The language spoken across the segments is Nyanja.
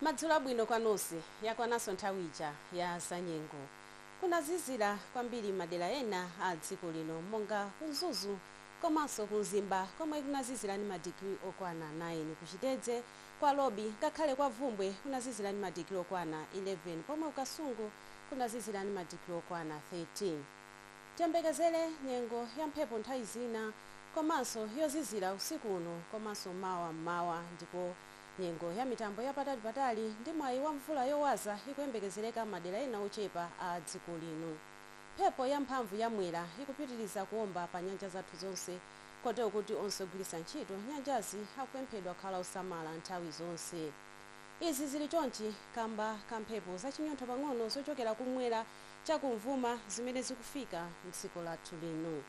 Madzulo abwino kwa nonse. Yakwananso nthawi ija ya zanyengo. Kunazizira kwambiri madera ena a dziko lino monga ku Mzuzu komanso ku Mzimba komwe kunazizira ndi madigiri okwana 9. Ku Chitedze, kwa Lobi ngakhale kwa Bvumbwe kunazizira ndi madigiri okwana 11 pomwe ku Kasungu kunazizira ndi madigiri okwana 13. Tiyembekezere nyengo ya mphepo nthawi zina komanso yozizira usiku uno komanso mawa m'mawa ndipo nyengo ya mitambo ya patali patali ndi mwayi wa mvula yowaza ikuyembekezereka madera ena ochepa a dziko lino. Mphepo ya mphamvu ya Mwera ikupitiriza kuomba pa nyanja zathu zonse kotero kuti onse ogwiritsa ntchito nyanjazi akupemphedwa kukhala osamala nthawi zonse. Izi zili chonchi kamba ka mphepo za chinyontho pang'ono zochokera ku m'mwera cha kumvuma zimene zikufika m'dziko lathu lino.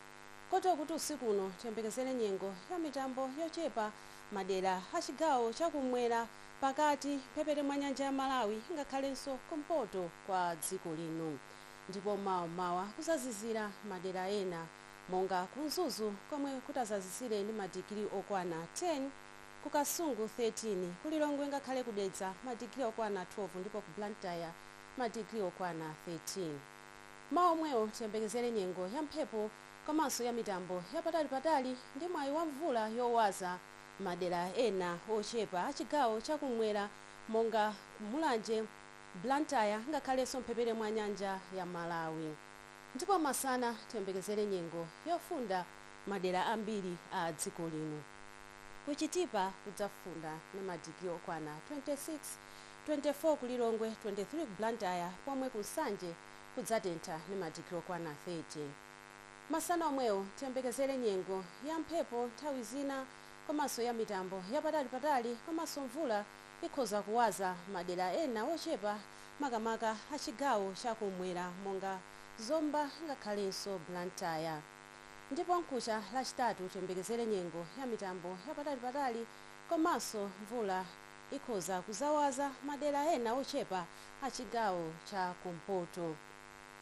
Kotero kuti usiku uno tiyembekezere nyengo ya mitambo yochepa madera a chigawo cha kummwera, pakati, mphepete mwa nyanja ya Malawi ngakhalenso kumpoto kwa dziko lino. Ndipo mawa m'mawa kuzazizira madera ena monga ku Mzuzu komwe kutazazizire ndi madigiri okwana 10, ku Kasungu 13, ku Lilongwe ngakhale ku Dedza madigiri okwana 12 ndipo ku Blantyre madigiri okwana 13. Mawa omwewo tiyembekezere nyengo ya mphepo komanso ya mitambo ya patalipatali ndi mwayi wa mvula yowaza madera ena ochepa a chigawo cha kummwera monga Mulanje, Blantyre ngakhalenso mphepete mwa nyanja ya Malawi. Ndipo masana tiyembekezere nyengo yofunda madera ambiri a dziko lino. Ku Chitipa kudzafunda ndi madigiri okwana 26. 24 ku Lilongwe, 23 ku Blantyre pomwe ku Nsanje kudzatentha ndi madigiri okwana 30. Masana omwewo tiyembekezere nyengo ya mphepo nthawi zina komanso ya mitambo yapatalipatali komanso mvula ikhoza kuwaza madera ena ochepa makamaka a chigawo cha kum'mwera monga Zomba ngakhalenso Blantyre. Ndipo mkucha Lachitatu tiyembekezere nyengo ya mitambo yapatalipatali komanso mvula. ikhoza kuzawaza madera ena ochepa a chigawo cha kumpoto.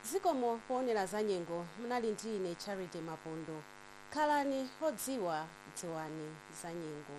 Zikomo poonera za nyengo munali ndi ine Charity Mapondo. Khalani odziwa dziwani za nyengo.